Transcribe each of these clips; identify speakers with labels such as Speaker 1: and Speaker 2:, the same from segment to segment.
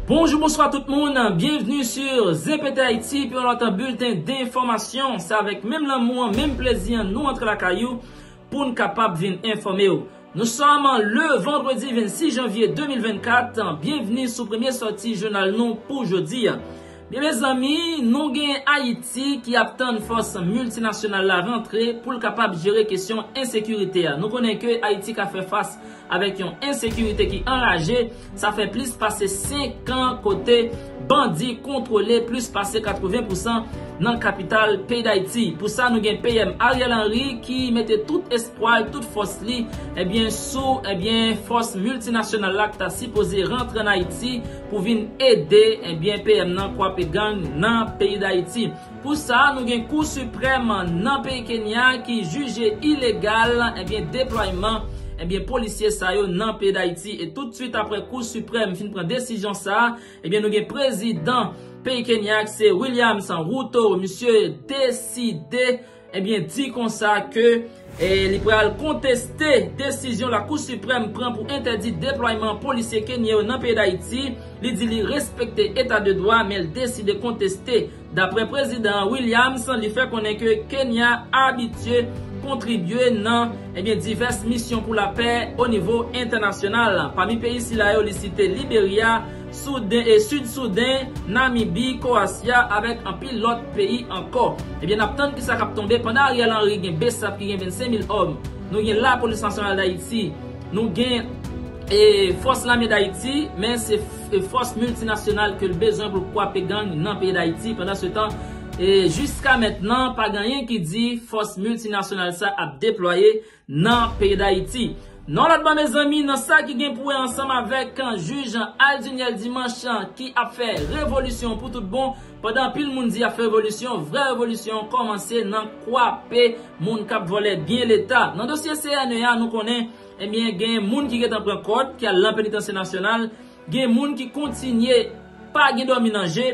Speaker 1: Bonjou bonswa tout moun, byenvni sur ZPThaiti pou yon lòt bilten denfòmasyon, se avèk menm lanmou an, menm plezi an nou antre lakay ou pou n kapab vin enfòme w. Nou sòm le vandredi 26 janvye 2024, byenvni sou premye sòti jounal nou pou jodi a. Byen mezanmi, nou gen Ayiti ki ap tann fòs miltinasyonal la rantre pou l kapab jere kesyon ensekirite a. Nou konnen ke Ayiti ka fè fas avèk yon ensekirite ki anraje, sa fè plis pase 5 an kote bandi kontwole plis pase 80 pousan nan kapital peyi Dayiti. Pou sa nou gen PM Ariel Henry ki mete tout espwa l, tout fòs li, ebyen sou, ebyen fòs miltinasyonal la ki ta sipoze rantre an Ayiti, pou vin ede ebyen PM nan kwape gang nan peyi Dayiti. Pou sa nou gen kou siprèm nan peyi Kenya ki jije ilegal ebyen deplwayman ebyen polisye sa yo nan peyi Dayiti e tout swit aprè kou siprèm fin pran desizyon sa ebyen nou gen prezidan peyi Kenya ki se Williams Ruto misye deside Ebyen di konsa ke li pral konteste desizyon Lakou Siprèm pran pou entèdi deplwayman polisye Kenyen yo nan peyi Dayiti, li di li respekte eta de dwa men l deside konteste. Daprè Prezidan Williams, li fè konnen ke Kenya abitye kontribye nan ebyen divès misyon pou lapè onivo entènasyonal. Pami peyi sila yo li site Liberya, Souden e Sid Souden, Namibi, Koasya avèk anpil lòt peyi ankò. Ebyen nap tann kisa kap tonbe pandan Ariel Henry gen Bsap ki gen 25 mil òm, nou gen la polis nasyonal dayiti, nou gen e fòs lame dayiti men se e fòs miltinasyonal kel bezwen poul kwape gang nan peyi dayiti pandan se tan e jiska mètnan pa gen anyen ki di fòs miltinasyonal sa ap deplwaye nan peyi dayiti. Nan lòt bò mezanmi nan sa ki gen pou wè ansanm avèk jij Alduniel Dimanche ki ap fè revolisyon pou tout bon pandan anpil moun di yap fè revolisyon vrè revolisyon kòmanse nan kwape moun kap vòlè byen leta nan dosye CNE a nou konnen ebyen gen moun ki gentan pran kòd ki al lan penitansye nasyonal Gen moun ki kontinye pa gen dòmi nan je,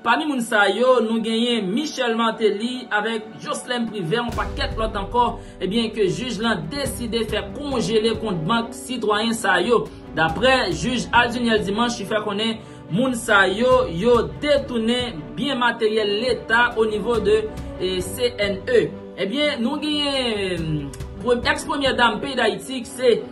Speaker 1: pami moun sa yo nou genyen Michel Martelly avèk Joslèm Privè yon pakèt lòt ankò ebyen ke jij lan deside fè konjele kont bank sitwayen sa yo. Daprè jij Alduniel Dimanche ki fè konnen moun sa yo yo detounen byen materyèl leta o nivo de CNE. Ebyen nou genyen ex premyè dam peyi Dayiti ki se.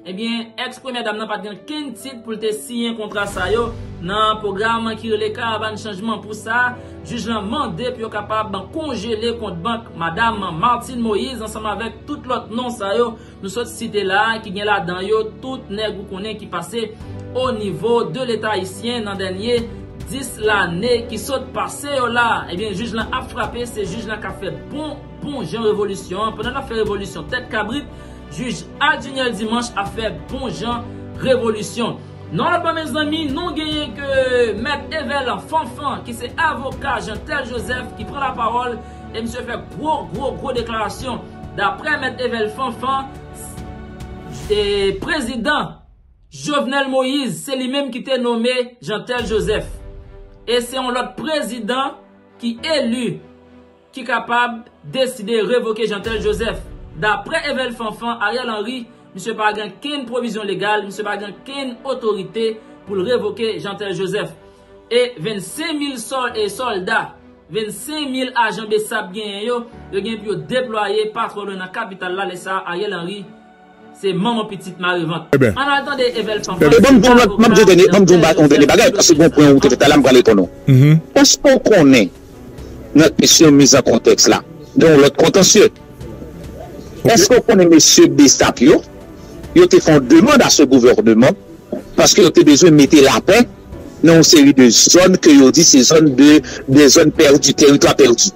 Speaker 1: Ebyen ex premyè dam nan pat gen kenn tit poul te siyen kontra sa yo nan pwogram ki rele karavan chanjman pou sa jij lan mande pou yo kapab konjele kont bank madam Martine Moïse ansanm avèk tout lòt non sa yo nou sot site la ki gen ladan yo tout nèg ou konnen ki pase o nivo de leta ayisyen nan dènye 10 lane ki sot pase yo la ebyen jij lan ap frape se jij lan kap fè bon Bon jan revolisyon an pandan nap fè revolisyon tèt kabrit jij Adunel Dimanche ap fè bon jan revolisyon nan lòt bò mezanmi nou genyen ke mèt Evelan Fanfan ki se avoka Jeantel Joseph ki pran lapawòl e misye fè gwo gwo gwo deklarasyon daprè mèt Evel Fanfan se prezidan Jovenel Moïse se li menm ki te nome Jeantel Joseph e se yon lòt prezidan ki eli ki kapab deside revoke Jeantel Joseph. Daprè Evel Fanfan, Ariel Henry, misye pa gen kenn pwovizyon legal, misye pa gen kenn otorite pou l revoke Jeantel Joseph. E 25 mil sòlda, 25 mil ajan Bsap genyen yo, yo gen pou yo deplwaye pa twò lwen nan kapital la lè sa a Ariel Henry, Se manman pitit mare vant. Ann al tande Evel Fanfan ki se avoka nan sèl distri
Speaker 2: sèl distri Nòdwès la. Èske w konnen nan kesyon miz an kontèks la gen yon lòt kontansye? Èske w konnen mesye bsap yo, yo te fè yon demand a se gouvèneman paske yo te bezwen mete lapè nan yon seri de zòn ke yo di se zòn de zòn pèdi, teritwa pèdi.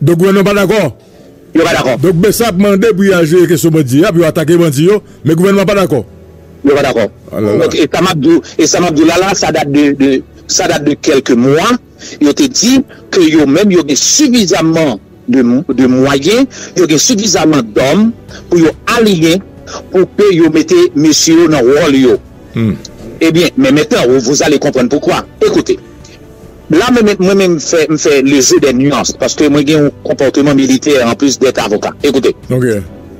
Speaker 2: Dok gouvènman pa dakò. Yo pa dakò. Dok bsap mande pou
Speaker 3: yo al jere kesyon bandi a, pou yo atake bandi yo, men gouvènman pa dakò. Yo pa dakò.
Speaker 2: Dok e sa map di w, e sa map di w la la, sa dat de, de, sa dat de kèlke mwa, yo te di ke yo menm yo gen sifizaman de, de mwayen, yo gen sifizaman dòm pou yo aliyen pou ke yo mete mesye yo nan wòl yo. Ebyen, men mentnan, vous allez comprendre pourquoi. Ekoute. La menm mwen menm m fè le jeu des nuances paske mwen gen yon konpòteman militè en plus d'être avocat. Écoutez. Ok.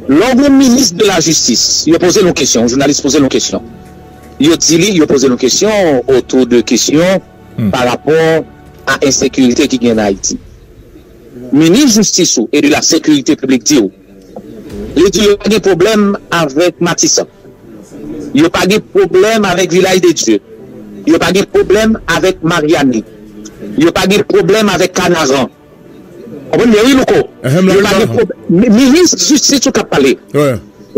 Speaker 3: Lè w gen yon minis
Speaker 2: de la jistis, yo poze l yon kesyon, yon jounalis poze l yon kesyon, yo di li, yo poze l yon kesyon autour de kesyon par rapport a ensekirite ki gen an Ayiti. Minis jistis ou e de la sekirite piblik di w. Li di yo pa gen pwoblèm avèk Matisan, yo pa gen pwoblèm avèk Vilaj de Dye, yo pa gen pwoblèm avèk Maryani, yo pa gen pwoblèm avèk Kanaran. Konprann byen wi Louko. Yo pa gen pwoblèm. Minis jistis ou k ap pale.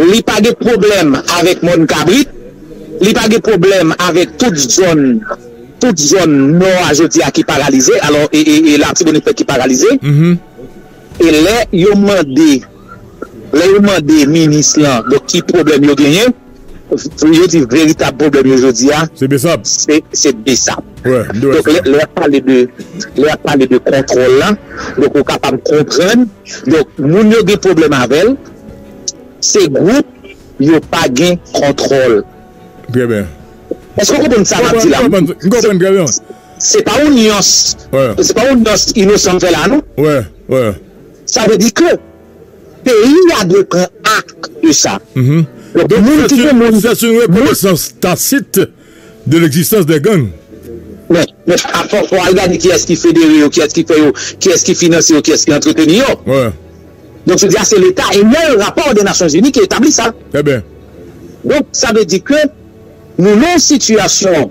Speaker 2: Li pa gen pwoblèm avèk Mòn Kabrit, li pa gen pwoblèm avèk tout zòn, tout zòn nò a jodi a ki paralize, alò e Latibonit fèt ki paralize. E lè yo mande, lè yo mande minis lan donk ki pwoblèm yo genyen, yo di veritab pwoblèm yo jodi a, Se Bsap. se
Speaker 3: Bsap. Wè, m te
Speaker 2: wè sa. Donk
Speaker 3: lè y ap pale
Speaker 2: de, lè y ap pale de kontwòl la, donk ou kapab konprann, donk moun yo gen pwoblèm avè l, se gwoup yo pa gen kontwòl. Trè byen.
Speaker 3: Èske w konprann
Speaker 2: sa m ap di la? M konprann trè byen. Se pa yon nyans, se pa yon nyans inosan m fè la non.
Speaker 3: Sa vle di
Speaker 2: ke peyi a dwe pran akte de sa. Donk moun
Speaker 3: ki gen moun. Sè sou rekonesans tasit de legzistans de gang. Men,
Speaker 2: men a fò fò al gade kiyès ki federe yo, kiyès ki fè yo, kiyès ki finanse yo, kiyès ki antreteni yo.
Speaker 3: Donk se di a
Speaker 2: se leta e nan yon rapò de Nasyon Zini ki etabli sa.
Speaker 3: Donk sa
Speaker 2: vle di ke nou nan yon sitiyasyon.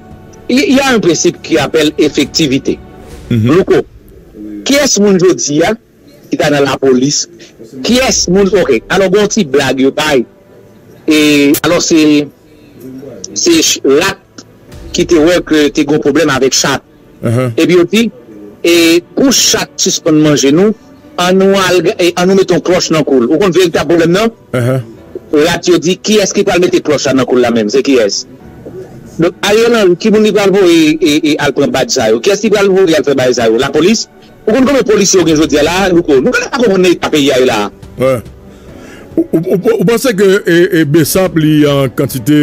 Speaker 2: Il y a un principe qui appelle effectivité. Louko, kiyès moun jodi a ki ta nan lapolis, kiyès moun ok, alò gen yon ti blag yo bay, e alò se se rat ki te wè ke te gen yon pwoblèm avèk chat. Epi yo di, E pou chat sispann manje nou, an nou al an nou mete yon klòch nan kou l. Ou konn veritab pwoblèm nan? Rat yo di, Kiyès ki pral mete klòch sa nan kou l la menm? Se kiyès? Donk Ariel Henry, ki moun li pral voye al pran badj sa yo? Kiyès li pral voye al fè bagay sa yo? Lapolis? Ou konn konbyen polisye ou gen jodi a la a Louko? Nou genlè pa konprann nan eta peyi a ye la a. Wè.
Speaker 3: Ou panse ke bsap li an kantite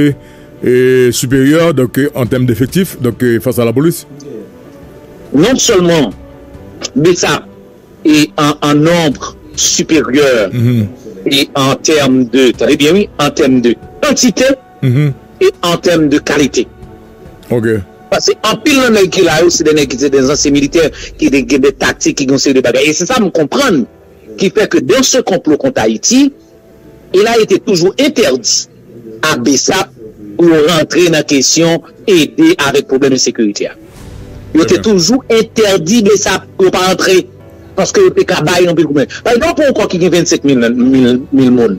Speaker 3: siperyè donk an tèm defektif donk fas a lapolis?
Speaker 2: Non sèlman bsap an nonb siperyè an tèm de, tande byen wi, an tèm de kantite. e an tèm de kalite.
Speaker 3: Paske
Speaker 2: anpil nan nèg ki la yo se de nèg ki se de zansyen militè ki te gen de taktik, ki gen yon seri de bagay. E se sa m konprann ki fè ke dans ce complot contre Haïti, il a été toujours interdit a bsap pou yo rantre nan kesyon ede avèk pwoblèm ensekirite a. Yo te toujou entèdi bsap pou yo pa antre paske yo te ka bay anpil pwoblèm. Pale de yon pon kò ki gen 25 mil moun.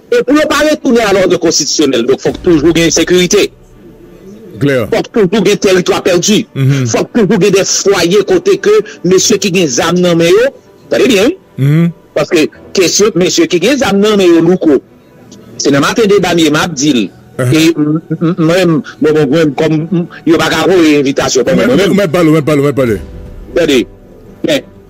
Speaker 3: E pou yo pa retounen
Speaker 2: a lòd konstitisyonèl, donk fòk toujou gen ensekirite,
Speaker 3: fòk toujou gen
Speaker 2: teritwa pèdi, fòk toujou gen de fwaye kote ke mesye ki gen zam nan men yo, tande byen wi, paske kesyon mesye ki gen zam nan men yo louko, se nan maten deba m ye m ap di l, e mwen menm kòm yo pa ka voye envitasyon ban mwen mwen menm. Ou mèt pale, ou mèt
Speaker 3: pale, ou mèt pale. Tande,
Speaker 2: men.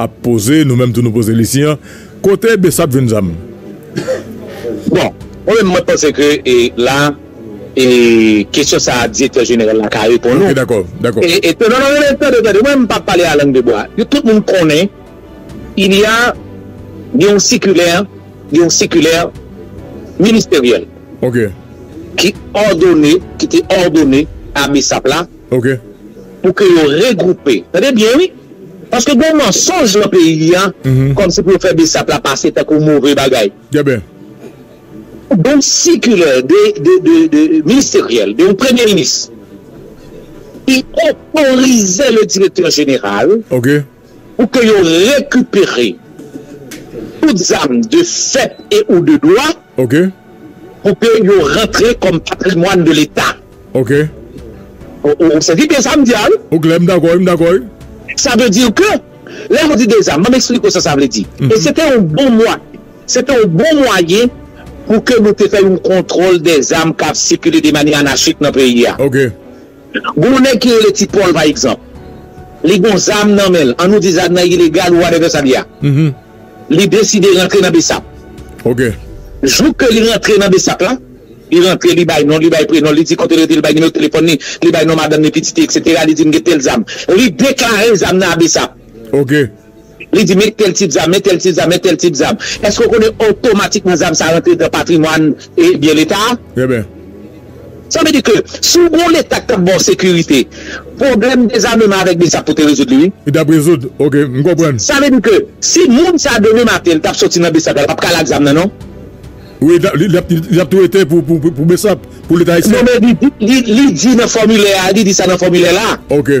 Speaker 3: Ap poze nou menm tou nou poze li si an kote besap jwenn zam.
Speaker 2: Bon mwen menm mwen panse ke e la e kesyon sa a direktè jeneral la ka reponn ou. Ok dakò dakò. E
Speaker 3: e non non
Speaker 2: non tande tande mwen menm pa pale a lang de bwa yo tout moun konnen il ya gen yon sikilè gen yon sikilè ministeryèl. Ok.
Speaker 3: Ki
Speaker 2: òdone ki te òdone a besap la. Ok.
Speaker 3: Pou ke yo
Speaker 2: regroupe. Tande byen wi. Paske gen mansonj lan peyi a. Kom si pou yo fè Bsap la pase tankou move bagay. Trè byen.
Speaker 3: Gen
Speaker 2: yon sikilè de ministeryèl de yon premye minis ki otorize le direktè jeneral. Ok. Pou ke yo rekipere tout zam de fèt e ou de dwa, pou ke yo rantre kòm patrimwàn de leta.
Speaker 3: Ou
Speaker 2: sezi byen sa m di a wi? Ou klè, m dakò wi, m
Speaker 3: dakò wi. Sa vle di
Speaker 2: ke, lè ou di de zam, ban m eksplike ou sa sa vle di. E se te yon bon mwa, se te yon bon mwayen pou ke nou te fè yon kontwòl de zam k ap sikile de manyè anachik nan peyi a.
Speaker 3: Gen yon
Speaker 2: nèg ki rele Ti Pòl pa egzanp, li gen yon zam nan men l, an nou di zam nan ilegal ou watèvè sa li a, li deside rantre nan Bsap.
Speaker 3: Jou ke
Speaker 2: li rantre nan Bsap la, li rantre li bay non l, li bay prenon l, li di kote l rete, li bay nimewo telefòn li, li bay non madanm li, pitit li, eksetera, li di m gen tèl zam. Li deklare zam nan a Bsap.
Speaker 3: Li di men
Speaker 2: tèl tip zam, men tèl tip zam, men tèl tip zam. Èske ou konnen otomatikman zam sa rantre nan patrimwàn e byen Leta a? Eben.
Speaker 3: Sa vle
Speaker 2: di ke si ou gen yon Leta ki t ap ba ou sekirite, pwoblèm dezameman avèk Bsap pou te rezoud li wi. Li t ap rezoud. Ok,
Speaker 3: m konprann. Sa vle di ke
Speaker 2: si moun sa demen maten li t ap soti nan Bsap la, l pap ka al ak zam nan non. Wi,
Speaker 3: li ap tou rete pou Bsap, pou Leta Ayisyen. Non men li
Speaker 2: di nan fòmilè a, li di sa nan fòmilè la. Ok.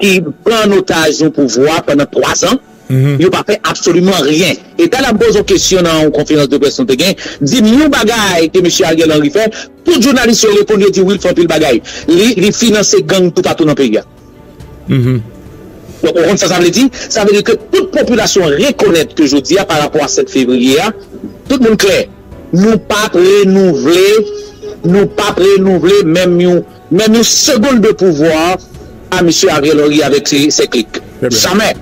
Speaker 2: ki pran an otaj yon pouvwa pandan 3 zan, yo pa fè absoliman ryen. E tan ap poze w kesyon nan yon konferans de près nou te gen, di m yon bagay ke mesye Ariel Henry fè, tout jounalis yo reponn yo di wi l fè anpil bagay. Li finanse gang toupatou nan peyi a. Donk ou konn sa sa vle di? Sa vle di ke tout popilasyon an rekonèt ke jodi a pa rapò a 7 fevriye a, tout moun klè, nou p ap renouvle, nou p ap renouvle menm yon. Menm yon segond de pouvwa a Misye Ariel Henry avèk ses cliques. Jamè!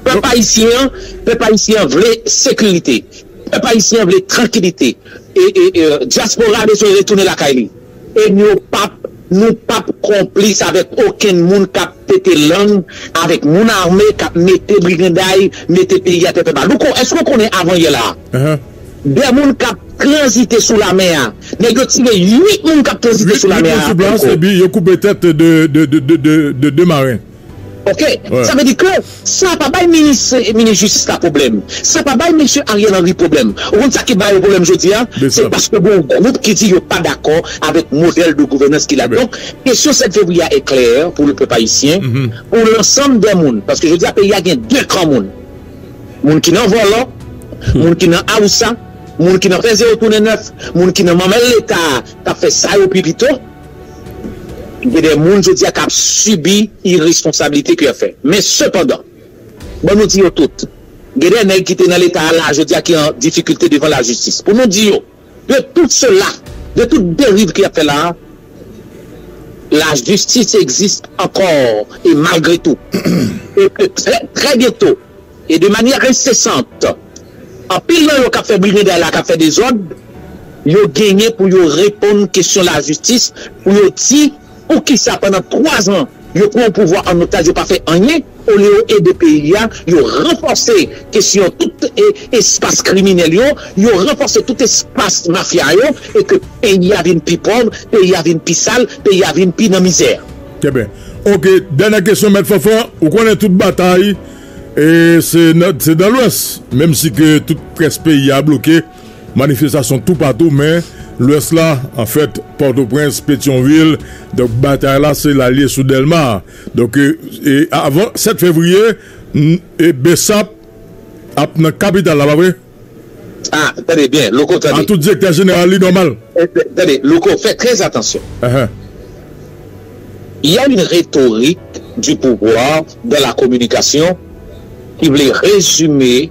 Speaker 2: Pèp ayisyen an, pèp ayisyen an vle sekirite. Pèp ayisyen an vle trankilite. E, e, e, dyaspora a bezwen retounen lakay li. E nou pap, nou pap konplis avèk okenn moun k ap pete lang avèk moun ame k ap mete briganday, mete peyi a tèt anba. Louko, èske ou konnen avan yè la a, 2 moun k ap tranzite sou lamè a. Nèg yo tire 8 moun k ap tranzite sou lamè a ankò. Epi yo koupe
Speaker 3: tèt 2 maren. Ok.
Speaker 2: Sa vle di ke sa pa bay minis jistis la pwoblèm. Sa pa bay mesye Ariel Henry pwoblèm. Ou konn sa ki ba yo pwoblèm jodi a? Se paske gen yon gwoup ki di yo pa dakò avèk modèl de gouvènans ki la. Donk, kesyon 7 fevriye a e klè pou pèp ayisyen, pou lansanm dè moun. Paske jodi a peyi a gen 2 kan moun. Moun ki nan vòlò, moun ki nan awousa, moun ki nan fè zewo tounen nèf, moun ki nan manmèl leta a k ap fè sa yo pi pito, gen de moun jodi a k ap sibi iresponsabilite ke y ap fè. Men sepandan, ban nou di yo tout, gen de nèg ki te nan leta a la a jodi a ki an difikilte devan lajistis. Pou nou di yo. De tout sela, de tout deriv ki ap fè la a, la jistis egziste ankò e malgre tou. E ke trè, trè byento, e de manyè ensesant, anpil nan yo k ap fè briganday la, k ap fè dezòd, yo genyen pou yo reponn kesyon la jistis, pou yo di. Poukisa pandan 3 zan yo pran pouvwa an otaj yo pa fè anyen olye yo ede peyi a, yo ranfòse kesyon tout espas kriminèl yo, yo ranfòse tout espas mafya yo e ke peyi a vin pi pòv, peyi a vin pi sal, peyi a vin pi nan mizè. Trè byen.
Speaker 3: Ok, dènyè kesyon mèt Fanfan, ou konnen tout batay se nan lwès, menm si ke tout près peyi a bloke. Manifestasyon toupatou men Lwès la, anfèt Pòtoprens, Petyonvil, donk batay la se lalye sou Dèlma. Donk e avan 7 fevriye e bsap ap nan kapital la pa vre? A
Speaker 2: tande byen Louko tande. A tout direktè jeneral li
Speaker 3: nòmal. Tande Louko
Speaker 2: fè trè atansyon. Ahan. Y a une rhétorique du pouvoir dans la communication ki vle rezime.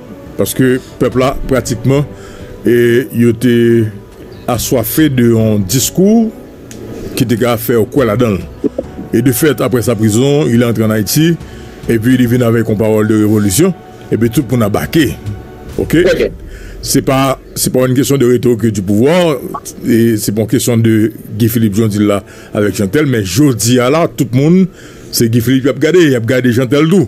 Speaker 3: Paske pèp la pratikman yo te aswafe de yon diskou ki te ka fè yo kwè ladan l. E de fèt aprè sa prizon, il est entré en Haïti epi li vin avèk yon pawòl de revolisyon epi tout moun abake. Ok. Se pa yon kesyon de retoke di pouvwa, se pa yon kesyon de Guy Philippe jan w di l la avèk Jean Tel men jodi a la tout moun se Guy Philippe y ap gade, y ap gade Jean Tel tou.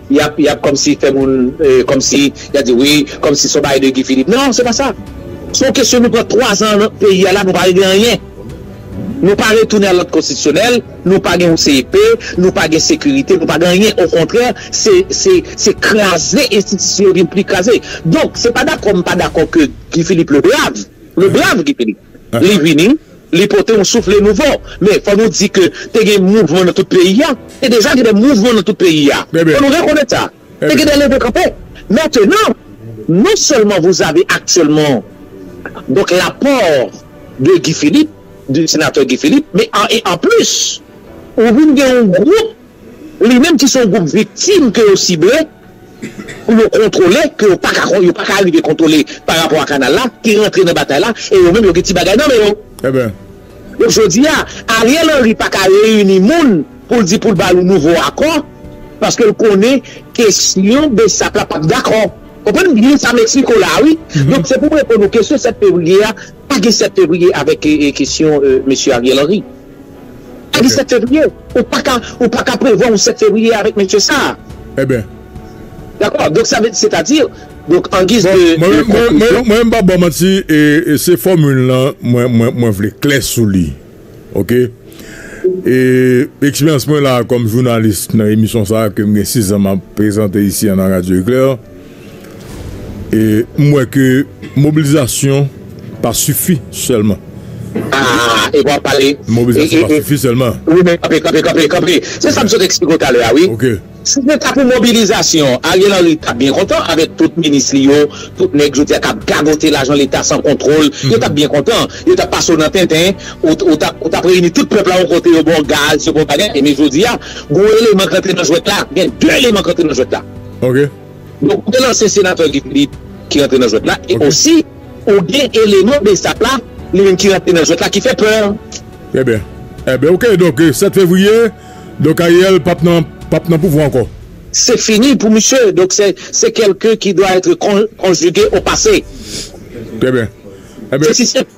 Speaker 2: Yap yap kòmsi fè moun kòmsi yap di wi kòmsi son bagay de Guy Philippe nan se pa sa son kesyon nou pran 3 zan nan peyi a la nou pa regle anyen nou pa retounen a lòd konstitisyonèl nou pa gen yon CEP nou pa gen sekirite nou pa gen anyen okontrè se se se kraze enstitisyon yo vin pli kraze donk se pa dakò m pa dakò ke Guy Philippe le brave le brave Guy Philippe. Li vini, li pote yon soufle nouvo. Men, fò nou di ke te gen mouvman nan tout peyi a. Te deja gen de mouvman nan tout peyi a. Fò nou rekonèt sa. Te gen de leve kanpe. Mentenan, non sèlman vouzave aktyèlman donk lapò de Guy Philippe, de senatè Guy Philippe, men an e an plis, ou vin gen yon gwoup. Li menm ki se yon gwoup viktim ke yo sible pou yo kontwole, ke yo pa ka kon, yo pa ka arive kontwole pa rapò a kanal la, te rantre nan batay la e yo menm yo gen ti bagay nan men yo. Eben. Donk jodi a, Ariel Henry pa ka reyini moun pou l di pou l ba yo nouvo akò, paske l konnen kesyon bsap la pap dakò. Konprann byen sa Mexico la a wi. Donk se pou m reponn ou kesyon 7 fevriye a, pa gen 7 fevriye avèk kesyon mesye Ariel Henry. Kadi 7 fevriye, ou paka ou paka prevwa yon 7 fevriye avèk mesye sa a. Eben. Dakò, donk sa vle di setadi, donk an giz de konklizyon. Mwen menm pa
Speaker 3: ba w manti, se fòmil lan mwen vle klè sou li. Ok. E eksperyans mwen la kòm jounalis nan emisyon sa a ke m gen 6 zan m ap prezante isi an nan Radyo Eklè. E m wè ke mobilizasyon pa sifi sèlman.
Speaker 2: Aa e wap pale. Mobilizasyon pa sifi
Speaker 3: sèlman. Wi men kanpe kanpe kanpe
Speaker 2: kanpe. Se sa m sot eksplike w talè a wi. Ok. Si se ta
Speaker 3: pou
Speaker 2: mobilizasyon, Ariel Henry t ap byen kontan avèk tout minis li yo, tout nèg jodi a k ap gagote lajan leta san kontwol. Yo t ap byen kontan. Yo t ap pase w nan tenten. Ou t ap ou t ap reyini tout pèp la yon kote yo ba w gaz, yo ba w bagay. Men jodi a, gen yon eleman k rantre nan jwèt la. Gen 2 eleman k rantre nan jwèt la. Ok.
Speaker 3: Nou pwal
Speaker 2: lanse senatè Guy Philippe ki rantre nan jwèt la e osi ou gen eleman Bsap la li menm ki rantre nan jwèt la ki fè pè. Trè byen.
Speaker 3: Enben ok donk 7 fevriye donk Ariel pap nan pap nan pouvwa ankò. Se fini
Speaker 2: pou misye donk se quelqu'un qui doit etre conjugue au passé. Trè byen.
Speaker 3: Se si senp.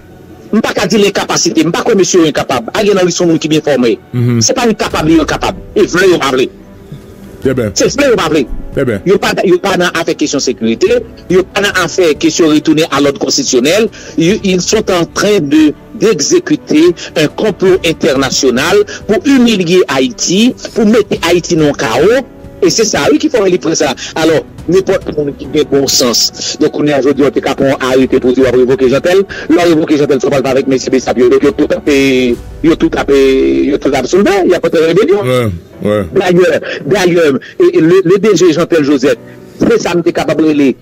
Speaker 2: M pa ka di l enkapasite. M pa kwè mesye yo enkapab. Ariel Henry se yon moun ki byen fòme. Se pa li kapab li enkapab. E vle yo pa vle. Se vle yo pa vle. Yo pa nan afè kesyon sekirite. Yo pa nan afè kesyon retounen a lòd konstitisyonèl. Ils sont en train de d'executer un complot international pou imilye Ayiti, pou mete Ayiti nan yon kawo. E se sa wi ki fè li pran sa. Alò, nenpòt moun ki gen bon sans. Donk kounya jodi a ou te ka pran yon arete pou w di w ap revoke Jeantel. Lè w revoke Jeantel fò w pral pale avèk mesye Bsap yo. Donk yo tout ap, yo tout ap, yo tout ap soulve, y ap antre rebelyon. Dayè, dayè, le DG Jeantel Joseph, se sa m te kapab rele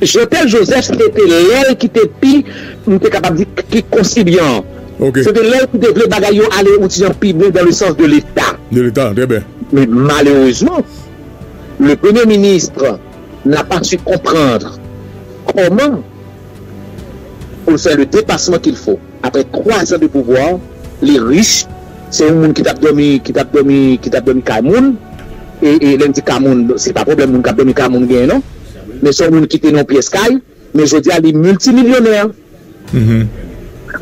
Speaker 2: Jothel Joseph se te lè l ki te pi, m te kapab di, pi konsibyan an. Se te lè l ki te vle bagay yo ale ou ti jan pi byen dan le sans de leta. De leta, trè byen.
Speaker 3: Men malerezman,
Speaker 2: le premye ministre n'a pas su comprendre comment pou l fè le depasman ki l fo. Aprè 3 zan de pouvwa li rich se yon moun ki tap dòmi ki tap dòmi ki tap dòmi kay moun e e lèm di ka moun se pa pwoblèm moun kap dòmi ka moun genyen non men son moun kite nan yon pyès kay men jodia li milti milyonè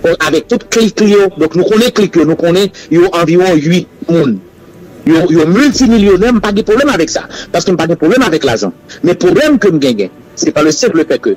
Speaker 2: bon avèk tout klik li yo donk nou konnen klik yo nou konnen yo anviwon 8 moun yo yo milti milyonè mpa gen pwoblèm avèk sa paskem pa gen pwoblèm avèk lajan men pwoblèm kem genyen se pa le senp le fè ke.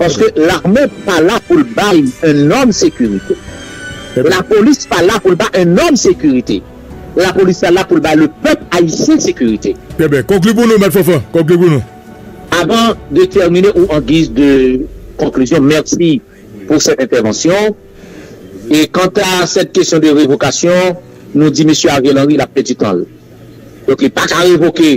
Speaker 2: Paske lame pa la pou l bay un nonm sekirite. Lapolis pa la pou l bay un nonm sekirite. Lapolis la la pou l bay le pèp ayisyen sekirite. Trè byen. Konkli pou nou,
Speaker 3: Mèt Fanfan. Konkli pou nou. Avan de
Speaker 2: tèmine ou an giz de konklizyon, mèsi pou sèt entèvansyon. E kanta sèt kesyon de revokasyon, nou di Mesye Ariel Henry l ap pèdi tan l. Donk li pa ka revoke.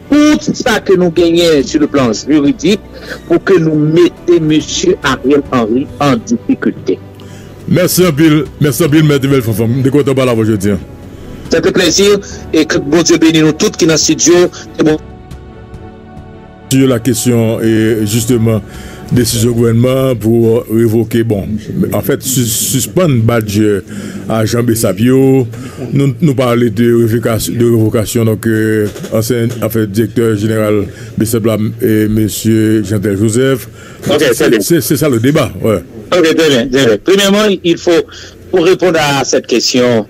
Speaker 2: Tout sa ke nou genyen sou le plan jiridik pou ke nou mete mesye Ariel Henry an difikilte. Mèsi
Speaker 3: anpil, mèsi anpil mèt Evel Fanfan, m te kontan pale avè w jodi an. Se te plezi,
Speaker 2: e ke Bondye beni nou tout ki nan studio, ke Bondye.
Speaker 3: Sou la kesyon jisteman Desizyon gouvènman an pou revoke, bon, anfèt sispann badjè ajan bsap yo, nou pale de revokasyon donk ansyen, anfen direktè jeneral bsap la mesye Jeantel Joseph, se sa le deba. Ok, trè byen, trè byen.
Speaker 2: Premyèman, il fo pou reponn a sèt kesyon.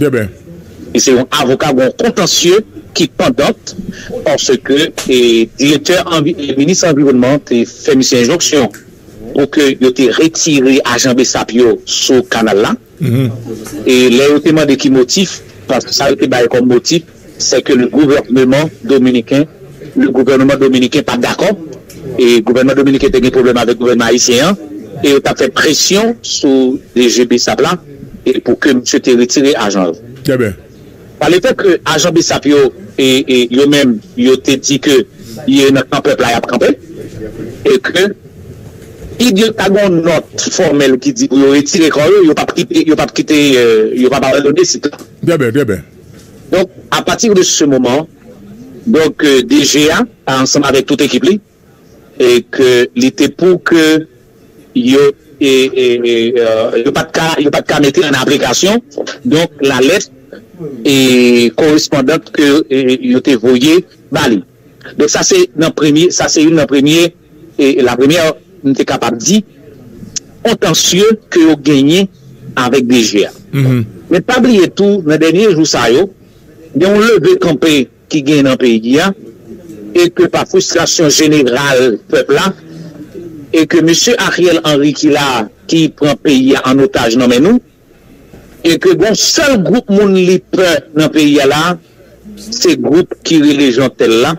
Speaker 2: Deben.
Speaker 3: Li se yon
Speaker 2: avoka gwo kontansye ki pandant paske direktè minis anviwònman te fè misye enjonksyon pou ke yo te retire ajan bsap yo sou kanal la e lè yo te mande ki motif paske sa yo te bay kòm motif sè ke le gouvèneman dominiken, le gouvèneman dominiken pa t dakò, e gouvèneman dominiken te gen pwoblèm avèk gouvèneman ayisyen an, e yo t ap fè presyon sou DG bsap la e pou ke misye te retire ajan yo. Trè byen.
Speaker 3: Sa vle fè ke
Speaker 2: ajan bsap yo, e yo menm yo te di ke ye nan kan pèp la y ap kanpe, e ke si yo ta gen yon nòt fòmèl ki di pou yo retire kò yo, yo p ap kite, yo p ap kite, yo p ap abandone sit la. Trè byen, trè byen.
Speaker 3: Donk, a
Speaker 2: pati de se moman, donk DG a ansanm avèk tout ekip li, e ke li te pou ke yo e yo pa t ka yo pa t ka mete an aplikasyon donk la lèt e korespondan ke yo te voye ba li. Donk sa se nan premye, sa se youn nan premye, la première, m te kapab di, kontansye ke yo genyen avèk DG a. Men pa bliye tou, nan dènye jou sa yo, gen yon leve kanpe ki genyen nan peyi a, e ke pa fristrasyon jeneral pèp la, e ke mesye Ariel Henry ki la a, ki pran peyi a an otaj nan men nou, E ke gon sèl gwoup moun li pè nan peyi a la a, se gwoup ki rele Jeantel la,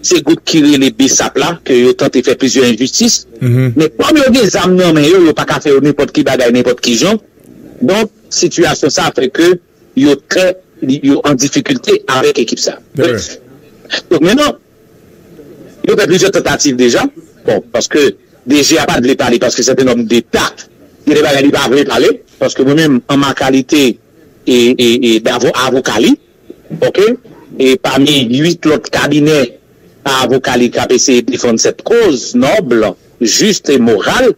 Speaker 2: se gwoup ki rele Bsap la ke yo tante fè plizyè enjistis. Men kòm yo gen zam nan men yo, yo pa ka fè yo nenpòt ki bagay nenpòt ki jan. Donk, sitiyasyon sa a fè ke yo trè, yo an difikilte avèk ekip sa a. Brèf. Donk, mennan, Yo fè plizyè tantativ deja, bon paske DG a pat vle pale paske sèt un homme d'Etat gen de bagay li pa vle pale paske mwen menm an ma kalite davo avoka li ok e pami 8 lòt kabinè avoka li kap eseye defann sèt koz noble, juste et morale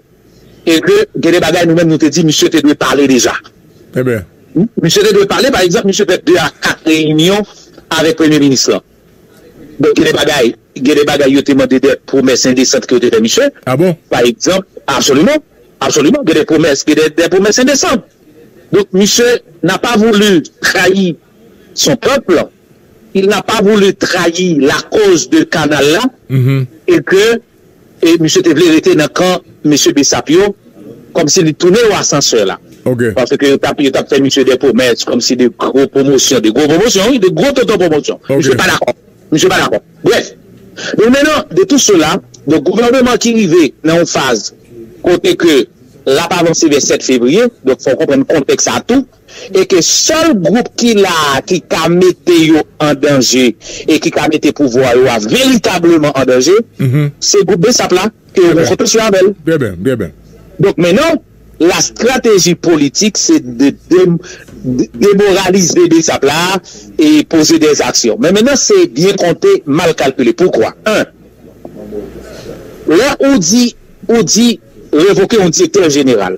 Speaker 2: e ke gen de bagay nou menm nou te di misye te dwe pale deja.
Speaker 3: Misye te dwe pale
Speaker 2: pa egzanp misye fè 2 a 4 reyinyon avèk premye minis lan. Bon, gen de bagay, gen de bagay yo te mande de pwomès endesant ke yo te fè misye. Ah bon? Pa egzanp, absoliman, absoliman, gen de pwomès, gen de, de pwomès endesan. Donk misye n'a pas voulu trahi son peuple, il n'a pas voulu trahi la cause de kanal la, et ke E misye te vle rete nan kan mesye Bessap yo, kòmsi li tounen yo asansè la. Ok. Paske yo tap
Speaker 3: yo tap
Speaker 2: fè misye dè pwomès kòmsi de gwo pwomosyon, de gwo pwomosyon wi, de gwo tonton pwomosyon. Ok. Misye pa dakò. Misye pa dakò. Brèf. Donk mennan, de tou sela, donk gouvèneman ki rive nan yon faz kote ke lap avanse vè 7 fevriye, donk fò w konprann kontèks sa tou. e ke sèl gwoup ki la a ki ka mete yo an danje e ki ka mete pouvwa yo a veritableman an danje, se gwoup bsap la ke yo gen fokisyon avè l.
Speaker 3: Donk mennan,
Speaker 2: lastrateji politik se de demoralize bsap la a e poze dè aksyon. Men mennan se byen konte, mal kalkile. Poukwa? 1, Lè ou di, ou di revoke yon direktè jeneral.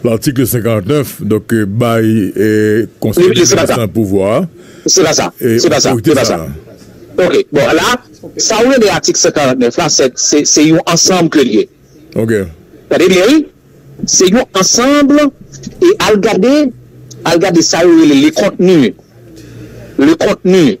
Speaker 3: L'article 59, donk, bay Konsèy Depans lan pouvwa a,
Speaker 2: otorite sa a. Ok, bon, la, sa ou rele atik 149 la, se yon ansanm ke li ye. Ok.
Speaker 3: Tande byen wi,
Speaker 2: se yon ansanm, e al gade, al gade sa yo rele le contenu, le contenu.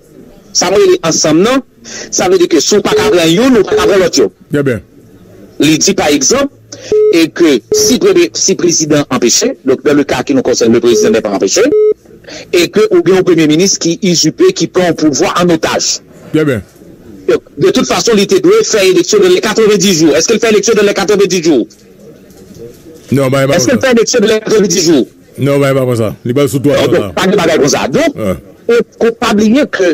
Speaker 2: Sa m rele ansanm nan, sa vle di ke si w pa ka pran youn, ou pa ka pran lòt yo.
Speaker 3: Li di pa
Speaker 2: egzanp, e ke si premye, si prezidan an anpeche, donk nan le ka ki nou konsène le prezidan nè pa anpeche, e ke ou gen yon premye minis ki izipe, ki pran yon pouvwa an otaj.
Speaker 3: Donk, de tout
Speaker 2: fason li te dwe fè eleksyon nan lè 90 jou. Eske l fè eleksyon nan lè 90 jou?
Speaker 3: Eske l fè eleksyon nan
Speaker 2: lè 90 jou? Non bagay pa konsa.
Speaker 3: Li pral sou 300 la. Pa gen bagay konsa.
Speaker 2: Donk, ou pa bliye ke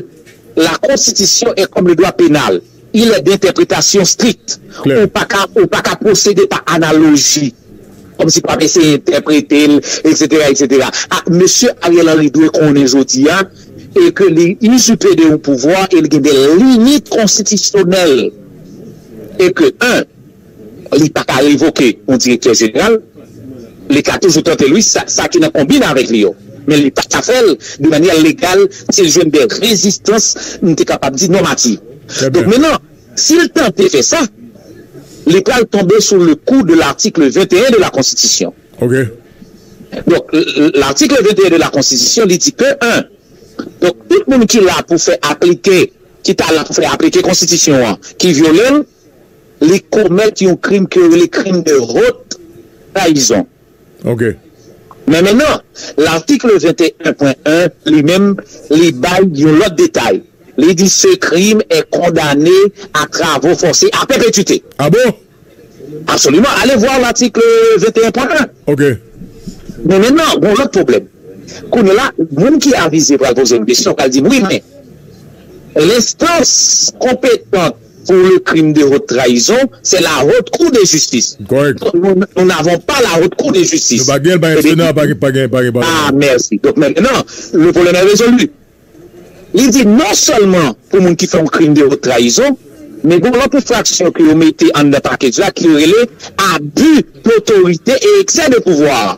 Speaker 2: la konstitisyon e kòm le dwa penal, il e dentèpretasyon strikt. Ou pa ka, ou pa ka pwosede pa analoji. Kòm si pou ap eseye entèprete l, eksetera, eksetera. A, mesye Ariel Henry dwe konnen jodi a, e ke li izipe de yon pouvwa e li gen de limit konstitisyonèl. E ke 1. Li pa ka revoke yon direktè jeneral, li ka toujou tante l wi, sa ki nan konbin avèk li yo, men li pa ka fè l de manyè legal si l jwenn de rezistans, m te kapab di nòmati. Donk mennan, si l tante fè sa, li pral tonbe sou le kou de l'article 21 de la Konstitisyon.
Speaker 3: Donk
Speaker 2: l'article 21 de la Konstitisyon li di ke 1. Donk tout moun ki la pou fè aplike, ki ta la pou fè aplike Konstitisyon an, ki vyole l, li komèt yon krim ke yo rele krim de hot trayizon.
Speaker 3: Men
Speaker 2: mennan, latikl 21 pwen 1, li menm, li bay yon lòt detay. Li di se krim è kondane a travo fòse a pèpètite. A bon?
Speaker 3: Absoliman.
Speaker 2: Ale vwa latikl 21 pwen 1. Ok.
Speaker 3: Men
Speaker 2: mennan, gon lòt pwoblèm. Kounye la, moun ki avize pral poze m kesyon, pral di m wi men, l enstans konpetant, Pour le crime de haute trahison, c'est la haute cour de justice. Correct. Nous
Speaker 3: n'avons
Speaker 2: pas la haute cour de justice. Nou pa gen l, pa gen Sena,
Speaker 3: pa gen palman.
Speaker 2: Ah merci. Donc maintenant, le problème est résolu. Li di non seulement pou moun ki fè yon crime de haute trahison, men gen yon lòt enfraksyon ke yo mete anndan package la ke yo rele abus d'autorité et excès de pouvoir.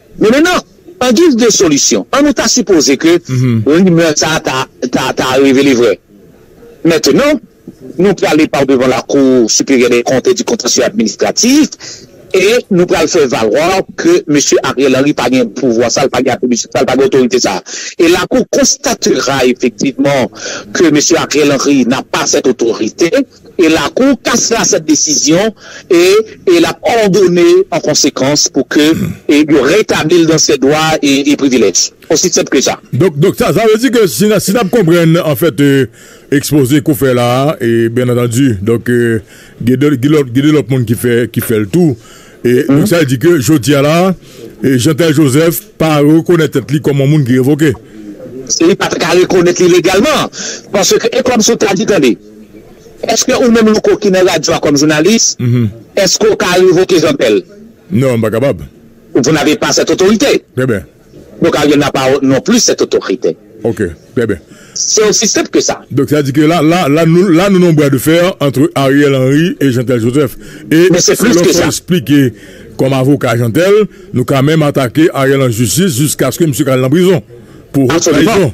Speaker 2: Men mennan, an giz de solisyon, an nou ta sipoze ke rimè sa a ta revele vrè. Mentenan, nou prale pa w devan Lakou Siperyè dè Kont e di Kontansye Administratif e nou pral fè valwa ke Mesye Ariel Henry pa gen pouvwa sa, li pa gen atribisyon sa, li pa gen otorite sa. E Lakou konstatera efektivman ke Mesye Ariel Henry na pa sèt otorite. e lakou kas la sèt desizyon e e l ap òdone an konsekans pou ke e yo retabli l dan sè dwa e e privilèj. Osi senp ke sa. Donk donk sa sa vle di
Speaker 3: ke si si n ap konprann an fèt e ekspoze ke w fè la a e byen antandi donk e gen de gen lòt gen de lòt moun ki fè ki fè l tou e donk sa vle di ke jodi a la a e Jeantel Joseph pa rekonèt tèt li kòm on moun ki revoke. Se li pa t
Speaker 2: ka rekonèt li legalman paske e kòmsi w ta di tande. Eske ou menm Louko ki nan radyo a kòm jounalis, eske ou ka revoke Jean Pèl? Non, m pa kapab.
Speaker 3: Vous n'avez pas
Speaker 2: cette autorité. Trè byen.
Speaker 3: Don Karyè n'a
Speaker 2: pas non plus cette autorité. Ok, trè byen.
Speaker 3: C'est aussi simple que
Speaker 2: ça. Donk sa di ke la, la,
Speaker 3: la nou, la nou nan yon bras de fer entre Ariel Henry et Jean Tel Joseph. E si lò fò
Speaker 2: esplike kòm
Speaker 3: avoka Jean Tel, nou ka menm atake Ariel an jistis jiskaske misye ka al nan prizon pou haute trahison.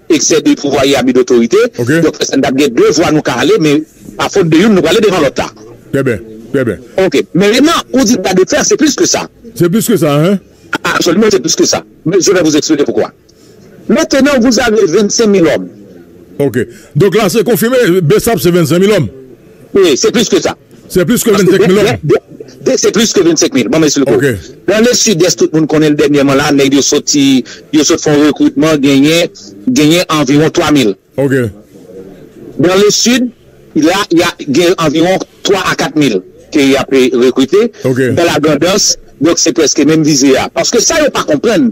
Speaker 2: Eksè de pouvwa e abi dotorite. Donk fè sa n t ap gen de vwa nou ka ale men pa fot de youn nou prale devan lòt la. Trè byen, trè
Speaker 3: byen. Ok. Men Renan,
Speaker 2: ou di bra de fer se plis ke sa. Se plis ke sa, hein?
Speaker 3: Absoliman se plis ke
Speaker 2: sa. Men je vais vous expliquer poukwa. Mentenan vous avez 25 mil òm. Ok.
Speaker 3: Donk la se konfime Bsap se 25 mil òm. P, Se plis ke
Speaker 2: sa. Se plis ke 25 mil
Speaker 3: lòm? P, Se plis ke 25
Speaker 2: mil. Banm esplike w. Nan le Sidès
Speaker 3: tout
Speaker 2: moun konnen l dènyèman la nèg yo soti yo sot fè yon rekritman genyen genyen anviwon 3 mil. Nan le Sid la ya gen anviwon 3 a 4 mil ke y ape rekrite nan la Grandans donk se prèske menm vize a paske sa yo pa konprann